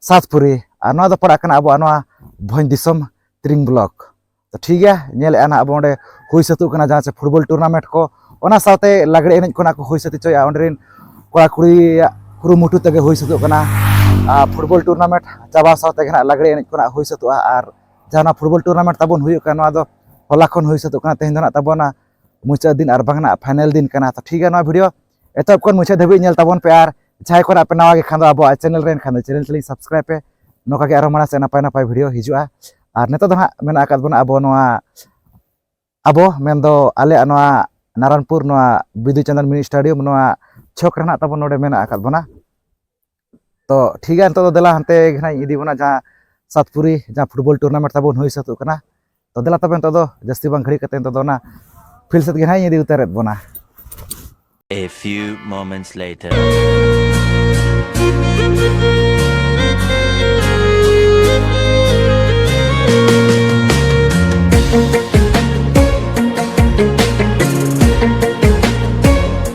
ᱥᱟᱛᱯᱩᱨᱤ ᱟᱨ ᱱᱚᱣᱟ ᱫᱚ ᱯᱟᱲᱟᱜ ᱠᱟᱱᱟ ᱟᱵᱚᱣᱟᱜ ᱱᱚᱣᱟ ᱵᱷᱚᱸᱡᱽ ᱫᱤᱥᱚᱢ ᱛᱨᱤᱝ ᱵᱞᱚᱠ ᱛᱚ ᱴᱷᱤᱠ ᱜᱮᱭᱟ ᱧᱮᱞᱮᱫᱼᱟ ᱱᱟᱦᱟᱜ ᱟᱵᱚ ᱚᱸᱰᱮ ᱦᱩᱭ ᱥᱟᱹᱛᱚᱜ ᱠᱟᱱᱟ ᱡᱟᱦᱟᱸ ᱪᱮ ᱯᱷᱩᱴᱵᱚᱞ ᱴᱩᱨᱱᱟᱢᱮᱱᱴ ᱠᱚ ᱚᱱᱟ ᱥᱟᱶᱛᱮ ᱞᱟᱜᱽᱲᱮ ᱮᱱᱮᱡ ᱠᱚ ᱱᱟᱜ ᱠᱚ ᱦᱩᱭ ᱥᱟᱹᱛ ᱦᱚᱪᱚᱭᱮᱫᱼᱟ ᱚᱸᱰᱮ ᱨᱮᱱ ᱠᱚᱲᱟ ᱠᱩᱲᱤᱭᱟᱜ ᱠᱩᱨᱩᱢᱩᱴᱩ ᱛᱮᱜᱮ ᱦᱩᱭ ᱥᱟᱹᱛᱚᱜ ᱠᱟᱱᱟ ᱯᱷᱩᱴᱵᱚᱞ ᱴᱩᱨᱱᱟᱢᱮᱱᱴ ᱪᱟᱵᱟ ᱥᱟᱶ ᱛᱮᱜᱮ ᱱᱟᱜ ᱞᱟᱜᱽᱲᱮ ᱮᱱᱮᱡ ᱠᱚ ᱱᱟᱜ ᱦᱩᱭ ᱥᱟᱹᱛᱚᱜᱼᱟ ᱟᱨ ᱡᱟᱦᱟᱸ ᱯᱷᱩᱴᱵᱚᱞ ᱴᱩᱨᱱᱟᱢᱮᱱᱴ ᱛᱟᱵᱚᱱ ᱦᱩᱭᱩᱜ ᱠᱟᱱᱟ ᱱᱚᱣᱟ ᱫᱚ ᱦᱚᱞᱟ ᱠᱷᱚᱱ ᱦᱩᱭ ᱥᱟᱹᱛᱚᱜ ᱠᱟᱱᱟ ᱛᱮᱦᱮᱧ ᱫᱚ ᱱᱟᱜ ᱛᱟᱵᱚᱱᱟ ᱢᱩᱪᱟᱹᱫ ᱫᱤᱱ ᱟᱨ ᱵᱟᱝ ᱱᱟᱜ ᱯᱷᱟᱭᱱᱮᱞ ᱫᱤᱱ ᱠᱟᱱᱟ ᱛᱚ ᱴᱷᱤᱠ ᱜᱮᱭᱟ ᱱᱚᱣᱟ ᱵᱷᱤᱰᱤᱭᱳ ᱮᱛᱚᱦᱚᱵ ᱠᱷᱚᱱ ᱢᱩᱪᱟᱹᱫ ᱫᱷᱟᱹᱵᱤᱡ ᱧᱮᱞ ᱛᱟᱵᱚᱱ ᱯᱮ ᱟᱨ ᱡᱟᱦᱟᱸᱭ ᱠᱚ ᱟᱯᱮ ᱱᱟᱣᱟ ᱜᱮ ᱠᱷᱟᱱ ᱫᱚ ᱟᱵᱚᱣᱟᱜ ᱪᱮᱱᱮᱞ ᱨᱮ ᱮᱱᱠᱷᱟᱱ ᱫᱚ ᱪᱮᱱᱮᱞ ᱛᱟᱹᱞᱤᱧ ᱥᱟᱵᱥᱠᱨᱟᱭᱤᱵ ᱯᱮ ᱱᱚᱝᱠᱟ ᱜᱮ ᱟᱨᱚ ᱢᱟᱲᱟᱝ ᱥᱮᱫ ᱱᱟᱯᱟᱭ ᱱᱟᱯᱟᱭ ᱵᱷᱤᱰᱤᱭᱳ ᱦᱤᱡᱩᱜᱼᱟ ᱟᱨ ᱱᱤᱛᱚᱜ ᱫᱚ ᱦᱟᱸᱜ ᱢᱮᱱᱟᱜ ᱟᱠᱟᱫ ᱵᱚᱱᱟ ᱟᱵᱚ ᱱᱚᱣᱟ ᱟᱵᱚ ᱢᱮᱱᱫᱚ ᱟᱞᱮᱭᱟᱜ ᱱᱚᱣᱟ ᱱᱟᱨᱟᱱᱯᱩᱨ ᱱᱚᱣᱟ ᱵᱤᱫᱩ ᱪᱟᱸᱫᱟᱱ ᱢᱤᱱᱤ ᱥᱴᱟᱰᱤᱭᱟᱢ ᱱᱚᱣᱟ ᱪᱷᱚᱠ ᱨᱮᱱᱟᱜ ᱛᱟᱵᱚᱱ ᱱᱚᱰᱮ ᱢᱮᱱᱟᱜ ᱟᱠᱟᱫ ᱵᱚᱱᱟ ᱛᱚ ᱴᱷᱤᱠ ᱜᱮᱭᱟ ᱱᱤᱛᱚᱜ ᱫᱚ ᱫᱮᱞᱟ ᱦᱟᱱᱛᱮ ᱜᱮ ᱦᱟᱸᱜ ᱤᱧ ᱤᱫᱤ ᱵᱚᱱᱟ ᱡᱟᱦᱟᱸ ᱥᱟᱛᱯᱩᱨᱤ ᱡᱟᱦᱟᱸ ᱯᱷᱩᱴᱵᱚᱞ ᱴᱩᱨᱱᱟᱢᱮᱱᱴ ᱛᱟᱵᱚᱱ ᱦᱩᱭ ᱥᱟᱹᱛᱚᱜ ᱠᱟᱱᱟ ᱛᱚ ᱫᱮᱞᱟ ᱛᱚᱵᱮ ᱱᱤᱛᱚᱜ ᱫᱚ ᱡᱟᱹᱥᱛᱤ ᱵᱟᱝ ᱜᱷᱟᱹᱲᱤᱡ ᱠᱟᱛᱮ ᱱᱤᱛᱚᱜ ᱫᱚ ᱚᱱᱟ ᱯᱷᱤᱞ ᱥᱮᱫ ᱜᱮ ᱦᱟᱸᱜ ᱤᱧ ᱤᱫᱤ ᱩᱛᱟᱹᱨᱮᱫ ᱵᱚᱱᱟ A few moments later.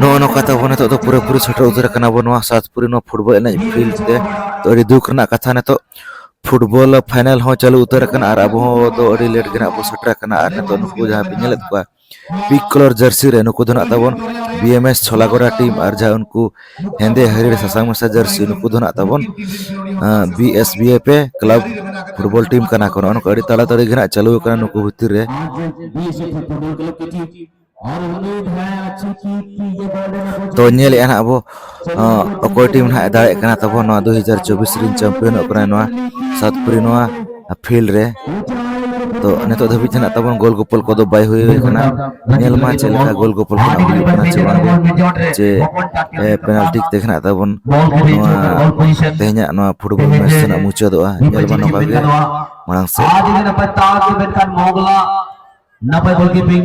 ᱱᱚᱜᱼᱚ ᱱᱚᱝᱠᱟ ᱛᱮ ᱟᱵᱚ ᱱᱤᱛᱚᱜ ᱫᱚ ᱯᱩᱨᱟᱹᱯᱩᱨᱤ ᱥᱮᱴᱮᱨ ᱩᱛᱟᱹᱨ ᱟᱠᱟᱱᱟ ᱵᱚ ᱱᱚᱣᱟ ᱥᱟᱛᱯᱩᱨᱤ ᱱᱚᱣᱟ ᱯᱷᱩᱴᱵᱚᱞ ᱮᱱᱮᱡ ᱯᱷᱤᱞᱰ ᱛᱮ ᱛᱚ ᱟᱹᱰᱤ ᱫᱩᱠ ᱨᱮᱱᱟᱜ ᱠᱟᱛᱷᱟ ᱱᱤᱛᱚᱜ ᱯᱷᱩᱴᱵᱚᱞ ᱯᱷᱟᱭᱱᱮᱞ ᱦᱚᱸ ᱪᱟᱹᱞᱩ ᱩᱛᱟᱹᱨ ᱟᱠᱟᱱᱟ ᱟᱨ ᱟᱵᱚ ᱫᱚ ᱟᱹᱰᱤ ᱞᱮᱴ ᱜᱮ ᱱᱟᱜ ᱵᱚ ᱥᱮᱴᱮᱨ ᱟᱠᱟᱱᱟ ᱟᱨ ᱱᱤᱛᱚᱜ ᱱᱩᱠᱩ ᱡᱟᱦᱟᱸ ᱵᱤᱱ ᱧᱮᱞᱮᱫ ᱠᱚᱣᱟ ᱯᱤᱠ ᱠᱚᱞᱚᱨ ᱡᱟᱹᱨᱥᱤ ᱨᱮ ᱱᱩᱠᱩ ᱫᱚ ᱱᱟᱜ ᱛᱟᱵᱚᱱ B M S Chholagora team ᱟᱨ ᱡᱟᱦᱟᱸ ᱩᱱᱠᱩ ᱦᱮᱸᱫᱮ ᱦᱟᱹᱨᱭᱟᱹᱲ ᱥᱟᱥᱟᱝ ᱢᱮᱥᱟ ᱡᱟᱹᱨᱥᱤ ᱱᱩᱠᱩ ᱫᱚ ᱱᱟᱜ ᱛᱟᱵᱚᱱ B S B A P club football team ᱠᱟᱱᱟ ᱠᱚ ᱱᱚᱜᱼᱚ ᱱᱚᱝᱠᱟ ᱟᱹᱰᱤ ᱛᱟᱲᱟᱛᱟᱲᱤ ᱜᱮ ᱱᱟᱜ ᱪᱟᱹᱞᱩ ᱟᱠᱟᱱᱟ ᱱᱩᱠᱩ ᱵᱷᱤᱛᱤᱨ ᱨᱮ ᱛᱚ ᱧᱮᱞᱮᱫᱼᱟ ᱱᱟᱜ ᱟᱵᱚ ᱚᱠᱚᱭ ᱴᱤᱢ ᱦᱟᱸᱜ ᱫᱟᱲᱮᱭᱟᱜ ᱠᱟᱱᱟ ᱛᱟᱵᱚ ᱱᱚᱣᱟ ᱫᱩ ᱦᱟᱡᱟᱨ ᱪᱚᱵᱵᱤᱥ ᱨᱮᱱ ᱪᱟᱢᱯᱤᱭᱚᱱᱚᱜ ᱠᱟᱱᱟ ᱱᱚᱣᱟ ᱥᱟᱣᱩᱛᱷ ᱠᱳᱨᱤᱭᱟ ᱱᱚᱣᱟ ᱯᱷᱤᱞᱰ ᱨᱮ ᱛᱚ ᱱᱤᱛᱚᱜ ᱫᱷᱟᱹᱵᱤᱡ ᱛᱮ ᱱᱟᱜ ᱛᱟᱵᱚᱱ ᱜᱳᱞ ᱜᱳᱯᱚᱞ ᱠᱚᱫᱚ ᱵᱟᱭ ᱦᱩᱭ ᱠᱟᱱᱟ ᱧᱮᱞ ᱢᱟ ᱪᱮᱫ ᱞᱮᱠᱟ ᱜᱳᱞ ᱜᱳᱯᱚᱞ ᱠᱚ ᱦᱩᱭᱩᱜ ᱠᱟᱱᱟ ᱪᱮ ᱵᱟᱝ ᱡᱮ ᱯᱮᱱᱟᱞᱴᱤ ᱛᱮ ᱱᱟᱜ ᱛᱟᱵᱚᱱ ᱱᱚᱣᱟ ᱛᱮᱦᱮᱧᱟᱜ ᱱᱚᱣᱟ ᱯᱷᱩᱴᱵᱚᱞ ᱢᱮᱪ ᱨᱮᱱᱟᱜ ᱢᱩᱪᱟᱹᱫᱚᱜᱼᱟ ᱧᱮᱞ ᱢᱟ ᱱᱚᱝᱠᱟ ᱜᱮ ᱢᱟᱲᱟᱝ ᱥᱮᱫ ᱱᱟᱯᱟᱭ ᱜᱳᱞᱠᱤᱯᱤᱝ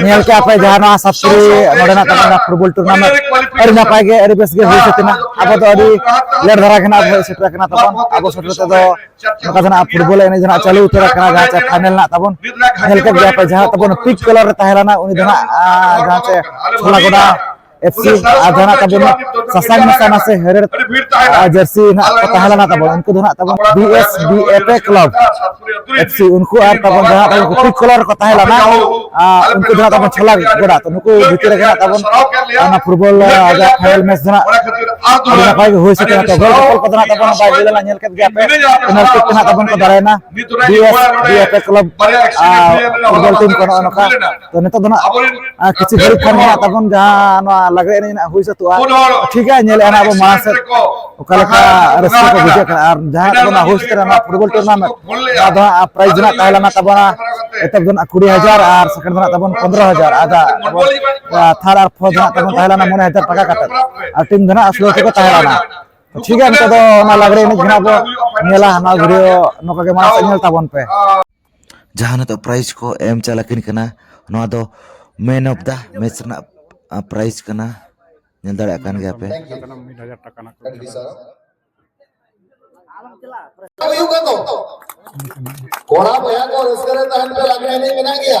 ᱧᱮᱞ ᱠᱮᱜᱼᱟ ᱯᱮ ᱡᱟᱦᱟᱸ ᱱᱚᱣᱟ ᱥᱟᱯᱥᱨᱤ ᱱᱚᱰᱮᱱᱟᱜ ᱛᱟᱵᱚᱱᱟ ᱯᱷᱩᱴᱵᱚᱞ ᱴᱩᱨᱱᱟᱢᱮᱱᱴ ᱟᱹᱰᱤ ᱱᱟᱯᱟᱭ ᱜᱮ ᱟᱹᱰᱤ ᱵᱮᱥ ᱜᱮ ᱦᱩᱭ ᱥᱟᱹᱛ ᱮᱱᱟ ᱟᱵᱚ ᱫᱚ ᱟᱹᱰᱤ ᱞᱮᱴ ᱫᱷᱟᱨᱟ ᱜᱮ ᱱᱟᱜ ᱦᱮᱡ ᱥᱮᱴᱮᱨ ᱟᱠᱟᱱᱟ ᱛᱟᱵᱚᱱ ᱟᱵᱚ ᱥᱮᱴᱮᱨ ᱛᱮᱫᱚ ᱱᱚᱝᱠᱟ ᱫᱚ ᱱᱟᱜ ᱯᱷᱩᱴᱵᱚᱞ ᱮᱱᱮᱡ ᱱᱟᱜ ᱪᱟᱹᱞᱩ ᱩᱛᱟᱹᱨ ᱟᱠᱟᱱᱟ ᱡᱟᱦᱟᱸ ᱪᱮ ᱯᱷᱟᱭᱱᱮᱞ ᱱᱟᱜ ᱛᱟᱵᱚᱱ ᱧᱮᱞ ᱠᱮᱫ ᱜᱮᱭᱟ ᱯᱮ ᱡᱟᱦᱟᱸ ᱛᱟᱵᱚᱱ ᱯᱤᱪ ᱠᱟᱞᱟᱨ ᱨᱮ ᱛᱟᱦᱮᱸ ᱞᱮᱱᱟ ᱩᱱᱤ ᱫᱚ ᱱᱟᱜ ᱡᱟᱦᱟᱸ ᱪᱮ ᱪᱷᱚᱞᱟ ᱜᱚᱰᱟ ᱮᱯᱥᱤ ᱟᱨ ᱡᱟᱦᱟᱸ ᱛᱟᱵᱚᱱ ᱥᱟᱥᱟᱝ ᱢᱮᱥᱟ ᱱᱟᱥᱮ ᱦᱮᱨᱮᱲ ᱡᱟᱹᱨᱥᱤ ᱱᱟᱜ ᱠᱚ ᱛᱟᱦᱮᱸ ᱞᱮᱱᱟ ᱛᱟᱵᱚᱱ ᱩᱱᱠᱩ ᱫᱚ ᱱᱟᱜ ᱛᱟᱵᱚᱱ B S B F A club FC ᱩᱱᱠᱩ ᱟᱨ ᱛᱟᱵᱚᱱ ᱡᱟᱦᱟᱸ ᱛᱟᱵᱚᱱ ᱠᱩᱯᱤ ᱠᱚᱞᱚᱨ ᱠᱚ ᱛᱟᱦᱮᱸ ᱞᱮᱱᱟ ᱩᱱᱠᱩ ᱫᱚ ᱱᱟᱜ ᱛᱟᱵᱚᱱ ᱪᱷᱚᱞᱟ ᱜᱚᱰᱟ ᱛᱚ ᱱᱩᱠᱩ ᱵᱷᱤᱛᱤᱨ ᱨᱮᱜᱮ ᱱᱟᱜ ᱛᱟᱵᱚᱱ ᱚᱱᱟ ᱯᱷᱩᱴᱵᱚᱞ ᱟᱡᱟᱜ ᱯᱷᱟᱭᱱᱟᱞ ᱢᱮᱪ ᱫᱚ ᱱᱟᱜ ᱟᱹᱰᱤ ᱱᱟᱯᱟᱭ ᱜᱮ ᱦᱩᱭ ᱥᱟᱹᱛ ᱮᱱᱟ ᱛᱚ ᱜᱚᱞ ᱠᱚᱯᱚᱞ ᱠᱚᱫᱚ ᱱᱟᱜ ᱛᱟᱵᱚᱱ ᱵᱟᱭ ᱦᱩᱭ ᱞᱮᱱᱟ ᱧᱮᱞ ᱠᱮᱫ ᱜᱮᱭᱟ ᱯᱮ ᱯᱮᱱᱟᱞᱴᱤ ᱛᱮ ᱱᱟᱜ ᱛᱟᱵᱚᱱ ᱠᱚ ᱫᱟᱲᱮᱭᱮᱱᱟ ᱵᱤᱭᱮᱯᱮ ᱠᱞᱟᱵᱽ ᱯᱷᱩᱴᱵᱚᱞ ᱴᱤᱢ ᱠᱚ ᱱᱚᱜᱼᱚ ᱱᱚᱝᱠᱟ ᱛᱚ ᱱᱤᱛᱚᱜ ᱫᱚ ᱱᱟᱜ ᱠᱤᱪᱷᱩ ᱜᱷᱟᱹᱲᱤᱡ ᱠᱷᱟᱱ ᱢᱮᱱᱟᱜ ᱛᱟᱵᱚᱱ ᱡᱟᱦᱟᱸ ᱱᱚᱣᱟ ᱞᱟᱜᱽᱲᱮ ᱮᱱᱮᱡ ᱱᱟᱜ ᱦᱩᱭ ᱥᱟᱹᱛᱚᱜᱼᱟ ᱴᱷᱤᱠ ᱜᱮᱭᱟ ᱧᱮᱞᱮᱫᱼᱟ ᱱᱟᱜ ᱟᱵᱚ ᱢᱟᱲᱟᱝ ᱥᱮᱫ ᱚᱠᱟ ᱞᱮᱠᱟ ᱨᱟᱹᱥᱠᱟᱹ ᱠᱚ ᱵᱩᱡᱷᱟᱹᱜ ᱠᱟᱱᱟ ᱟᱨ ᱡᱟᱦᱟᱸ ᱠᱚ ᱱᱟᱜ ᱦᱩᱭ ᱥᱟᱹᱛᱚᱜᱼᱟ ᱱᱚᱣᱟ ᱯᱷᱩᱴᱵᱚᱞ ᱴᱩᱨᱱᱟᱢᱮᱱᱴ ᱱᱚᱣᱟ ᱫᱚ ᱦᱟᱸᱜ ᱯᱨᱟᱭᱤᱡᱽ ᱱᱟᱜ ᱛᱟᱦᱮᱸ ᱞᱮᱱᱟ ᱛᱟᱵᱚᱱᱟ ᱮᱛᱚᱦᱚᱵ ᱫᱚ ᱱᱟᱜ ᱠᱩᱲᱤ ᱦᱟᱡᱟᱨ ᱟᱨ ᱥᱮᱠᱮᱱᱰ ᱫᱚ ᱱᱟᱜ ᱛᱟᱵᱚᱱ ᱯᱚᱱᱨᱚ ᱦᱟᱡᱟᱨ ᱟᱨ ᱛᱷᱟᱨᱰ ᱟᱨ ᱯᱷᱳᱨᱛᱷ ᱱᱟᱜ ᱛᱟᱵᱚᱱ ᱛᱟᱦᱮᱸ ᱞᱮᱱᱟ ᱢᱚᱬᱮ ᱦᱟᱡᱟᱨ ᱴᱟᱠᱟ ᱠᱟᱛᱮᱫ ᱟᱨ ᱴᱤᱢ ᱫᱚ ᱱᱟᱜ ᱥᱳᱞᱳ ᱴᱤ ᱠᱚ ᱛᱟᱦᱮᱸ ᱞᱮᱱᱟ ᱴᱷᱤᱠ ᱜᱮᱭᱟ ᱱᱤᱛᱚᱜ ᱫᱚ ᱚᱱᱟ ᱞᱟᱜᱽᱲᱮ ᱮᱱᱮᱡ ᱜᱮ ᱵᱚ ᱧᱮᱞᱟ ᱚᱱᱟ ᱵᱷᱤᱰᱤᱭᱳ ᱱᱚᱝᱠᱟ ᱜᱮ ᱢᱟᱲᱟᱝ ᱥᱮᱫ ᱧᱮᱞ ᱛᱟᱵᱚᱱ ᱯᱮ ᱡᱟᱦᱟᱸ ᱱᱤᱛᱚᱜ ᱯᱨᱟᱭᱤᱡᱽ ᱠᱚ ᱮᱢ ᱪᱟᱞ ᱟᱹᱠᱤᱱ ᱠᱟᱱᱟ ᱱᱚᱣᱟ ᱫᱚ ᱢᱮᱱ ᱚᱯᱷ ᱫᱟ ᱢᱮᱪ ᱨᱮᱱᱟᱜ ᱯᱨᱟᱭᱤᱡᱽ ᱠᱟᱱᱟ ᱧᱮᱞ ᱫᱟᱲᱮᱭᱟᱜ ᱠᱟᱱ ᱜᱮᱭᱟ ᱯᱮ ᱠᱚᱲᱟ ᱵᱚᱭᱦᱟ ᱠᱚ ᱨᱟᱹᱥᱠᱟᱹ ᱨᱮ ᱛᱟᱦᱮᱱ ᱯᱮ ᱞᱟᱜᱽᱲᱮ ᱮᱱᱮᱡ ᱢᱮᱱᱟᱜ ᱜᱮᱭᱟ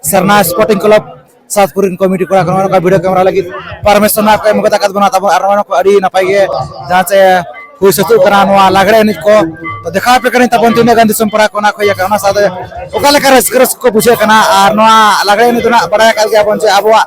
ᱥᱟᱨᱱᱟ ᱥᱯᱳᱨᱴᱤᱝ ᱠᱞᱟᱵᱽ ᱥᱟᱛᱯᱩᱨ ᱨᱮᱱ ᱠᱚᱢᱤᱴᱤ ᱠᱚᱲᱟ ᱠᱚ ᱱᱚᱝᱠᱟ ᱵᱷᱤᱰᱤᱭᱳ ᱠᱮᱢᱮᱨᱟ ᱞᱟᱹᱜᱤᱫ ᱯᱟᱨᱢᱤᱥᱚᱱ ᱠᱚ ᱮᱢ ᱠᱟᱛᱟ ᱠᱟᱫ ᱵᱚᱱᱟ ᱛᱟᱵᱚᱱ ᱟᱨ ᱱᱚᱣᱟ ᱠᱚ ᱟᱹᱰᱤ ᱱᱟᱯᱟᱭ ᱜᱮ ᱡᱟᱦᱟᱸ ᱪᱮ ᱦᱩᱭ ᱥᱟᱹᱛᱚᱜ ᱠᱟᱱᱟ ᱱᱚᱣᱟ ᱞᱟᱜᱽᱲᱮ ᱮᱱᱮᱡ ᱠᱚ ᱛᱚ ᱫᱮᱠᱷᱟᱣ ᱟᱯᱮ ᱠᱟᱹᱱᱟᱹᱧ ᱛᱟᱵᱚᱱ ᱛᱤᱱᱟᱹᱜ ᱜᱟᱱ ᱫᱤᱥᱚᱢ ᱯᱟᱲᱟ ᱠᱚ ᱚᱱᱟ ᱠᱚ ᱤᱭᱟᱹ ᱠᱟᱱᱟ ᱚᱱᱟ ᱥᱟᱶᱛᱮ ᱚᱠᱟ ᱞᱮᱠᱟ ᱨᱟᱹᱥᱠᱟᱹ ᱨᱟᱹᱥᱠᱟᱹ ᱠᱚ ᱵᱩᱡᱷᱟᱹᱜ ᱠᱟᱱᱟ ᱟᱨ ᱱᱚᱣᱟ ᱞᱟᱜᱽᱲᱮ ᱮᱱᱮᱡ ᱫᱚ ᱱᱟᱜ ᱵᱟᱲᱟᱭ ᱟᱠᱟᱫ ᱜᱮᱭᱟᱵᱚᱱ ᱡᱮ ᱟᱵᱚᱣᱟᱜ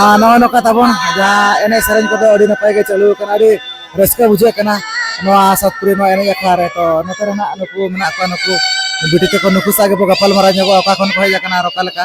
ᱟᱨ ᱱᱚᱜᱼᱚ ᱱᱚᱝᱠᱟ ᱛᱟᱵᱚᱱ ᱡᱟᱦᱟᱸ ᱮᱱᱮᱡ ᱥᱮᱨᱮᱧ ᱠᱚᱫᱚ ᱟᱹᱰᱤ ᱱᱟᱯᱟᱭ ᱜᱮ ᱪᱟᱹᱞᱩ ᱟᱠᱟᱱᱟ ᱟᱹᱰᱤ ᱨᱟᱹᱥᱠᱟᱹ ᱵᱩᱡᱷᱟᱹᱜ ᱠᱟᱱᱟ ᱱᱚᱣᱟ ᱥᱟᱛᱯᱩᱨᱤ ᱱᱚᱣᱟ ᱮᱱᱮᱡ ᱟᱠᱷᱲᱟ ᱨᱮ ᱛᱚ ᱱᱚᱛᱮ ᱨᱮ ᱱᱟᱜ ᱱᱩᱠᱩ ᱢᱮᱱᱟᱜ ᱠᱚᱣᱟ ᱱᱩᱠᱩ ᱵᱤᱴᱤ ᱛᱟᱠᱚ ᱱᱩᱠᱩ ᱥᱟᱶ ᱜᱮᱵᱚ ᱜᱟᱯᱟᱞᱢᱟᱨᱟᱣ ᱧᱚᱜᱚᱜᱼᱟ ᱚᱠᱟ ᱠᱷᱚᱱ ᱠᱚ ᱦᱮᱡ ᱟᱠᱟᱱᱟ ᱟᱨ ᱚᱠᱟ ᱞᱮᱠᱟ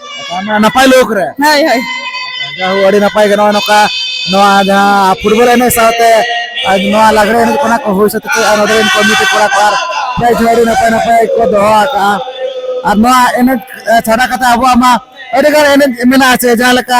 ᱱᱟᱯᱟᱭ ᱞᱳᱠ ᱨᱮ ᱦᱳᱭ ᱦᱳᱭ ᱡᱟᱦᱳ ᱟᱹᱰᱤ ᱱᱟᱯᱟᱭ ᱜᱮ ᱱᱚᱜᱼᱚᱭ ᱱᱚᱝᱠᱟ ᱱᱚᱣᱟ ᱡᱟᱦᱟᱸ ᱯᱷᱩᱴᱵᱚᱞ ᱮᱱᱮᱡ ᱥᱟᱶᱛᱮ ᱱᱚᱣᱟ ᱞᱟᱜᱽᱲᱮ ᱮᱱᱮᱡ ᱠᱚ ᱱᱟᱜ ᱠᱚ ᱦᱩᱭ ᱥᱟᱹᱛ ᱠᱮᱫᱼᱟ ᱱᱚᱰᱮ ᱨᱮᱱ ᱠᱚᱢᱤᱴᱤ ᱠᱚᱲᱟ ᱠᱚ ᱟᱨ ᱯᱨᱟᱭᱤᱡᱽ ᱦᱚᱸ ᱟᱹᱰᱤ ᱱᱟᱯᱟᱭ ᱱᱟᱯᱟᱭ ᱠᱚ ᱫᱚᱦᱚ ᱟᱠᱟᱜᱼᱟ ᱟᱨ ᱱᱚᱣᱟ ᱮᱱᱮᱡ ᱪᱷᱟᱰᱟ ᱠᱟᱛᱮ ᱟᱵᱚᱣᱟᱜ ᱢᱟ ᱟᱹᱰᱤᱜᱟᱱ ᱮᱱᱮᱡ ᱢᱮᱱᱟᱜᱼᱟ ᱥᱮ ᱡᱟᱦᱟᱸ ᱞᱮᱠᱟ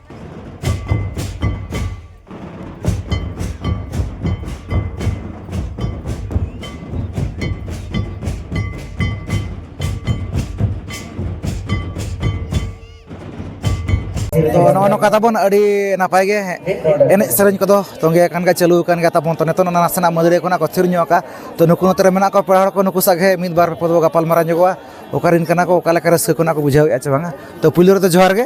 ᱛᱚ ᱱᱚᱜᱼᱚ ᱱᱚᱝᱠᱟ ᱛᱟᱵᱚᱱ ᱟᱹᱰᱤ ᱱᱟᱯᱟᱭ ᱜᱮ ᱮᱱᱮᱡ ᱥᱮᱨᱮᱧ ᱠᱚᱫᱚ ᱛᱚᱸᱜᱮ ᱟᱠᱟᱱ ᱜᱮᱭᱟ ᱪᱟᱹᱞᱩ ᱟᱠᱟᱱ ᱜᱮᱭᱟ ᱛᱟᱵᱚᱱ ᱛᱚ ᱱᱤᱛᱚᱜ ᱚᱱᱟ ᱱᱟᱥᱮᱱᱟᱜ ᱢᱟᱹᱫᱟᱹᱲᱤᱭᱟᱹ ᱠᱷᱚᱱᱟᱜ ᱠᱚ ᱛᱷᱤᱨ ᱧᱚᱜ ᱟᱠᱟᱫ ᱛᱚ ᱱᱩᱠᱩ ᱱᱚᱛᱮ ᱨᱮ ᱢᱮᱱᱟᱜ ᱠᱚᱣᱟ ᱯᱮᱲᱟ ᱦᱚᱲ ᱠᱚ ᱱᱩᱠᱩ ᱥᱟᱜ ᱜᱮ ᱢᱤᱫ ᱵᱟᱨ ᱯᱚᱫᱚ ᱜᱟᱯᱟᱞᱢᱟᱨᱟᱣ ᱧᱚᱜᱚᱜᱼᱟ ᱚᱠᱟᱨᱮᱱ ᱠᱟᱱᱟ ᱠᱚ ᱚᱠᱟ ᱞᱮᱠᱟ ᱨᱟᱹᱥᱠᱟᱹ ᱠᱷᱚᱱᱟᱜ ᱠᱚ ᱵᱩᱡᱷᱟᱹᱣᱮᱫᱼᱟ ᱥᱮ ᱵᱟᱝᱟ ᱛᱚ ᱯᱳᱭᱞᱳ ᱨᱮᱫᱚ ᱡᱚᱦᱟᱨ ᱜᱮ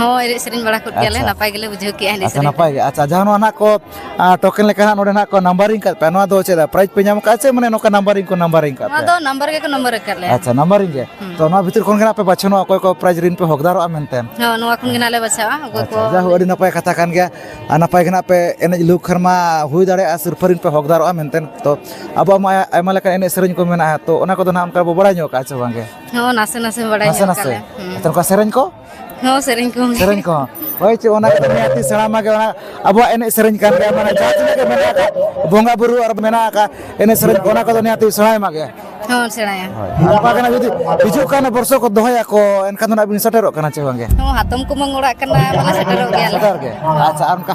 ᱦᱳᱭ ᱮᱱᱮᱡ ᱥᱮᱨᱮᱧ ᱵᱟᱲᱟ ᱠᱚᱜ ᱜᱮᱭᱟᱞᱮ ᱟᱪᱪᱷᱟ᱾ ᱱᱟᱯᱟᱭ ᱜᱮᱞᱮ ᱵᱩᱡᱷᱟᱹᱣ ᱠᱮᱜᱼᱟ ᱮᱱᱮᱡ ᱟᱪᱪᱷᱟ ᱥᱮᱨᱮᱧ ᱱᱟᱯᱟᱭ ᱜᱮ ᱟᱪᱪᱷᱟ ᱡᱟᱦᱟᱸ ᱱᱚᱣᱟ ᱱᱟᱜ ᱠᱚ ᱟᱸ, ᱴᱳᱠᱮᱱ ᱞᱮᱠᱟ ᱦᱟᱸᱜ ᱱᱚᱰᱮ ᱱᱟᱜ ᱠᱚ ᱱᱟᱢᱵᱟᱨᱤᱝ ᱠᱟᱫ ᱯᱮᱭᱟ ᱱᱚᱣᱟ ᱫᱚ ᱪᱮᱫ ᱯᱨᱟᱭᱤᱡᱽ ᱯᱮ ᱧᱟᱢ ᱠᱟᱜᱼᱟ ᱥᱮ ᱢᱟᱱᱮ ᱱᱚᱝᱠᱟ ᱱᱟᱢᱵᱟᱨᱤᱝ ᱠᱚ ᱱᱟᱢᱵᱟᱨᱤᱝ ᱠᱟᱫ ᱱᱚᱣᱟ ᱯᱮᱭᱟ ᱫᱚ ᱱᱟᱢᱵᱟᱨ ᱜᱮᱠᱚ ᱱᱟᱢᱵᱟᱨ ᱟᱠᱟᱫ ᱞᱮᱭᱟ ᱟᱪᱪᱷᱟ ᱱᱟᱢᱵᱟᱨᱤᱝ ᱜᱮ ᱛᱚ ᱱᱚᱣᱟ ᱵᱷᱤᱛᱤᱨ ᱠᱷᱚᱱ ᱜᱮ ᱱᱟᱜ ᱯᱮ ᱵᱟᱪᱷᱚᱱᱚᱜᱼᱟ ᱚᱠᱚᱭ ᱠᱚ ᱯᱨᱟᱭᱤᱡᱽ ᱨᱤᱱ ᱯᱮ ᱦᱚᱠᱫᱟᱨᱚᱜᱼᱟ ᱢᱮᱱᱛᱮ ᱦᱳᱭ ᱱᱚᱣᱟ ᱠᱷᱚᱱ ᱜᱮ ᱱᱟᱜ ᱞᱮ ᱵᱟᱪᱷᱟᱣᱟ ᱚᱠᱚᱭ ᱠᱚ ᱟᱪᱪᱷᱟ ᱡᱟᱭᱦᱳᱠ ᱟᱹᱰᱤ ᱱᱟᱯᱟᱭ ᱠᱟᱛᱷᱟ ᱠᱟᱱ ᱜᱮᱭᱟ ᱟᱨ ᱱᱟᱯᱟᱭ ᱜᱮ ᱱᱟᱜ ᱯᱮ ᱮᱱᱮᱡ ᱞᱩᱠ ᱠᱷᱟᱱ ᱢᱟ ᱦᱩᱭ ᱫᱟᱲᱮᱭᱟᱜᱼᱟ ᱥᱤᱨᱯᱷᱟᱹ ᱨᱤᱱ ᱯᱮ ᱦᱚᱠᱫᱟᱨᱚᱜᱼᱟ ᱢᱮᱱᱛᱮ ᱛᱚ ᱟᱵᱚᱣᱟᱜ ᱢᱟ ᱟᱭᱢᱟ ᱞᱮᱠᱟᱱ ᱮᱱᱮᱡ ᱥᱮᱨᱮᱧ ᱠᱚ ᱢᱮᱱᱟᱜᱼᱟ ᱛᱚ ᱚᱱᱟ ᱠᱚᱫᱚ ᱱᱟᱜ ᱚᱱᱠᱟ ᱵᱚ ᱵᱟᱲᱟᱭ ᱧᱚᱜ ᱠᱟᱜᱼᱟ ᱥᱮ ᱵᱟᱝᱜᱮ ᱦᱚᱸ ᱱᱟᱥᱮ ᱱᱟᱥᱮ ᱵᱟᱲᱟᱭ ᱱᱟᱥᱮ ᱧᱚᱜ ᱱᱟᱥᱮ ᱠᱟᱞᱮ ᱱᱮᱛᱟᱨ ᱚᱱᱠᱟ ᱥᱮᱨᱮᱧ ᱠᱚ ᱦᱚᱸ ᱥᱮᱨᱮᱧ ᱠᱚ ᱥᱮᱨᱮᱧ ᱠᱚ ᱦᱳᱭ ᱪᱮᱫ ᱚᱱᱟ ᱠᱚᱫᱚ ᱱᱤᱦᱟᱹᱛ ᱥᱮᱬᱟ ᱢᱟᱜᱮ ᱚᱱᱟ ᱟᱵᱚᱣᱟᱜ ᱮᱱᱮᱡ ᱥᱮᱨᱮᱧ ᱠᱟᱱ ᱜᱮᱭᱟ ᱢᱟᱱᱮ ᱡᱟᱦᱟᱸ ᱛᱤᱱᱟᱹᱜ ᱜᱮ ᱢᱮᱱᱟᱜ ᱟᱠᱟᱫ ᱵᱚᱸᱜᱟ ᱵᱩᱨᱩ ᱟᱨ ᱢᱮᱱᱟᱜ ᱟᱠᱟᱫ ᱮᱱᱮᱡ ᱥᱮᱨᱮᱧ ᱠᱚ ᱚᱱᱟ ᱠᱚᱫᱚ ᱱᱤᱦᱟᱹᱛ ᱥᱮᱬᱟᱭ ᱢᱟᱜᱮ ᱦᱚᱸ ᱥᱮᱬᱟᱭᱟ ᱱᱚᱝᱠᱟ ᱠᱟᱱᱟ ᱡᱩᱫᱤ ᱦᱤᱡᱩᱜ ᱠᱟᱱ ᱵᱚᱨᱥᱚ ᱠᱚ ᱫᱚᱦᱚᱭᱟᱠᱚ ᱮᱱᱠᱷᱟᱱ ᱫᱚ ᱱᱟᱜ ᱵᱤᱱ ᱥᱮᱴᱮᱨᱚᱜ ᱠᱟᱱᱟ ᱪᱮ ᱵᱟᱝᱜᱮ ᱦᱚᱸ ᱦᱟᱛᱚᱢ ᱠᱩᱢᱟᱹᱝ ᱚᱲᱟᱜ ᱠᱟᱱᱟ ᱢᱟᱱᱮ ᱥᱮᱴᱮᱨᱚᱜ ᱜᱮᱭᱟᱞᱮ ᱥᱮᱴᱮᱨ ᱜᱮ ᱟᱪᱪᱷᱟ ᱟᱨ ᱚᱱᱠᱟ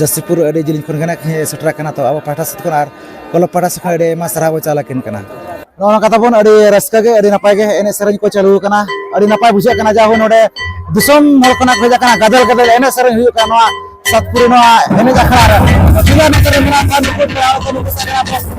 ᱡᱟᱹᱥᱤᱯᱩᱨ ᱟᱹᱰᱤ ᱡᱤᱞᱤᱧ ᱠᱷᱚᱱ ᱜᱮ ᱱᱟᱦᱟᱜ ᱥᱮᱴᱮᱨ ᱟᱠᱟᱱᱟ ᱛᱚ ᱟᱵᱚ ᱯᱟᱦᱴᱟ ᱥᱮᱫ ᱠᱷᱚᱱ ᱟᱨ ᱠᱞᱟᱵᱽ ᱯᱟᱦᱴᱟ ᱥᱮᱫ ᱠᱷᱚᱱ ᱟᱹᱰᱤ ᱟᱭᱢᱟ ᱥᱟᱨᱦᱟᱣ ᱵᱚᱱ ᱪᱟᱞ ᱟᱹᱠᱤᱱ ᱠᱟᱱᱟ ᱱᱚᱜᱼᱚ ᱱᱚᱝᱠᱟ ᱛᱟᱵᱚᱱ ᱟᱹᱰᱤ ᱨᱟᱹᱥᱠᱟᱹ ᱜᱮ ᱟᱹᱰᱤ ᱱᱟᱯᱟᱭ ᱜᱮ ᱮᱱᱮᱡ ᱥᱮᱨᱮᱧ ᱠᱚ ᱪᱟᱹᱞᱩ ᱟᱠᱟᱱᱟ ᱟᱹᱰᱤ ᱱᱟᱯᱟᱭ ᱵᱩᱡᱷᱟᱹᱜ ᱠᱟᱱᱟ ᱡᱟᱦᱳ ᱱᱚᱰᱮ ᱫᱤᱥᱚᱢ ᱦᱚᱲ ᱠᱷᱚᱱᱟᱜ ᱠᱚ ᱦᱮᱡ ᱟᱠᱟᱱᱟ ᱜᱟᱫᱮᱞ ᱜᱟᱫᱮᱞ ᱮᱱᱮᱡ ᱥᱮᱨᱮᱧ ᱦᱩᱭᱩᱜ ᱠᱟᱱᱟ ᱱᱚᱣᱟ ᱥᱟᱛᱯᱩᱨ ᱱᱚᱣᱟ ᱮᱱᱮᱡ ᱟᱠᱷᱲᱟ ᱨᱮ ᱡᱮᱞᱟ ᱱᱚᱛᱮ ᱨᱮ ᱢᱮᱱᱟᱜ ᱠᱚᱣᱟ ᱱᱩᱠᱩ ᱯᱮᱲᱟ ᱠᱚ ᱱᱩᱠᱩ ᱥᱟᱸᱜᱮ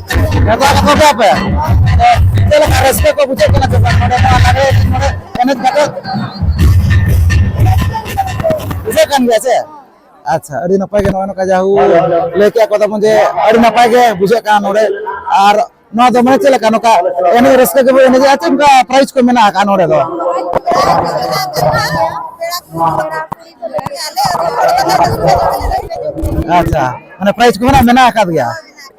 ᱟᱪᱪᱷᱟ ᱟᱹᱰᱤ ᱱᱟᱯᱟᱭ ᱜᱮ ᱱᱚᱜᱼᱚᱭ ᱱᱚᱝᱠᱟ ᱡᱟᱦᱩ ᱞᱟᱹᱭ ᱠᱮᱫ ᱠᱚ ᱛᱟᱵᱚᱱ ᱡᱮ ᱟᱹᱰᱤ ᱱᱟᱯᱟᱭ ᱜᱮ ᱵᱩᱡᱷᱟᱹᱜ ᱠᱟᱱᱟ ᱱᱚᱰᱮ ᱟᱨ ᱱᱚᱣᱟ ᱫᱚ ᱢᱟᱱᱮ ᱪᱮᱫ ᱞᱮᱠᱟ ᱱᱚᱝᱠᱟ ᱮᱱᱮᱡ ᱨᱟᱹᱥᱠᱟᱹ ᱜᱮᱵᱚ ᱮᱱᱮᱡᱟ ᱪᱮᱫ ᱚᱱᱠᱟ ᱯᱨᱟᱭᱤᱡᱽ ᱠᱚ ᱢᱮᱱᱟᱜ ᱟᱠᱟᱫ ᱱᱚᱰᱮ ᱫᱚ ᱟᱪᱪᱷᱟ ᱢᱟᱱᱮ ᱯᱨᱟᱭᱤᱡᱽ ᱠᱚ ᱢᱮᱱᱟᱜ ᱢᱮᱱᱟᱜ ᱟᱠᱟᱫ ᱜᱮᱭᱟ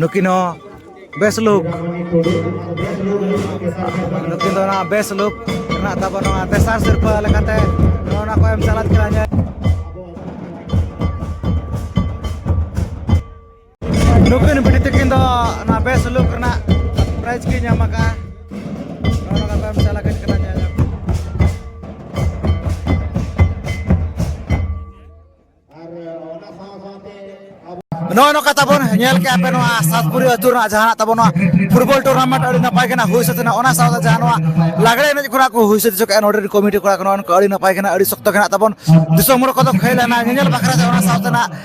ᱱᱩᱠᱤᱱ ᱦᱚᱸ ᱵᱮᱥ ᱞᱩᱠ ᱱᱩᱠᱤᱱ ᱫᱚ ᱚᱱᱟ ᱵᱮᱥ ᱞᱩᱠ ᱨᱮᱱᱟᱜ ᱛᱟᱵᱚᱱ ᱱᱚᱣᱟ ᱛᱮᱥᱟᱨ ᱥᱤᱨᱯᱟᱹ ᱞᱮᱠᱟᱛᱮ ᱱᱚᱜᱼᱚ ᱱᱟ ᱠᱚ ᱮᱢ ᱪᱟᱞᱟᱜ ᱠᱟᱱᱟ ᱱᱩᱠᱤᱱ ᱵᱤᱴᱤ ᱛᱟᱹᱠᱤᱱ ᱫᱚ ᱚᱱᱟ ᱵᱮᱥ ᱥᱩᱞᱩᱠ ᱨᱮᱱᱟᱜ ᱯᱨᱟᱭᱤᱡᱽ ᱠᱤᱱ ᱧᱟᱢ ᱟᱠᱟᱫᱼᱟ ᱱᱚᱣᱟ ᱠᱟᱛᱷᱟ ᱮᱢ ᱪᱟᱞᱟᱜ ᱠᱟᱱ ᱠᱟᱱᱟ ᱧᱮᱞ ᱱᱚᱜᱼᱚ ᱱᱚᱝᱠᱟ ᱛᱟᱵᱚᱱ ᱧᱮᱞ ᱠᱮᱜᱼᱟ ᱯᱮ ᱱᱚᱣᱟ ᱥᱟᱛᱯᱩᱨᱤ ᱟᱹᱛᱩ ᱨᱮᱱᱟᱜ ᱡᱟᱦᱟᱱᱟᱜ ᱛᱟᱵᱚᱱ ᱱᱚᱣᱟ ᱯᱷᱩᱴᱵᱚᱞ ᱴᱩᱨᱱᱟᱢᱮᱱᱴ ᱟᱹᱰᱤ ᱱᱟᱯᱟᱭ ᱜᱮ ᱦᱩᱭ ᱥᱟᱹᱛ ᱮᱱᱟ ᱚᱱᱟ ᱥᱟᱶᱛᱮ ᱡᱟᱦᱟᱸ ᱱᱚᱣᱟ ᱞᱟᱜᱽᱲᱮ ᱮᱱᱮᱡ ᱠᱚᱲᱟ ᱠᱚ ᱦᱩᱭ ᱥᱟᱹᱛ ᱦᱚᱪᱚ ᱠᱮᱜᱼᱟ ᱱᱚᱰᱮ ᱠᱚᱢᱤᱴᱤ ᱠᱚᱲᱟ ᱠᱚ ᱱᱚᱜᱼᱚ ᱱᱚᱝᱠᱟ ᱟᱹᱰᱤ ᱱᱟᱯᱟᱭ ᱜᱮ ᱟᱹᱰᱤ ᱥᱚᱠᱛᱚ ᱜᱮ ᱛᱟᱵᱚᱱ ᱫᱤᱥᱚᱢ ᱦᱚᱲ ᱠᱚᱫᱚ ᱠᱷᱮᱞ ᱮᱱᱟ ᱧᱮᱧᱮᱞ ᱵᱟᱠᱷᱨᱟ ᱛᱮ ᱚᱱᱟ ᱥᱟᱶᱛᱮ ᱱᱟᱜ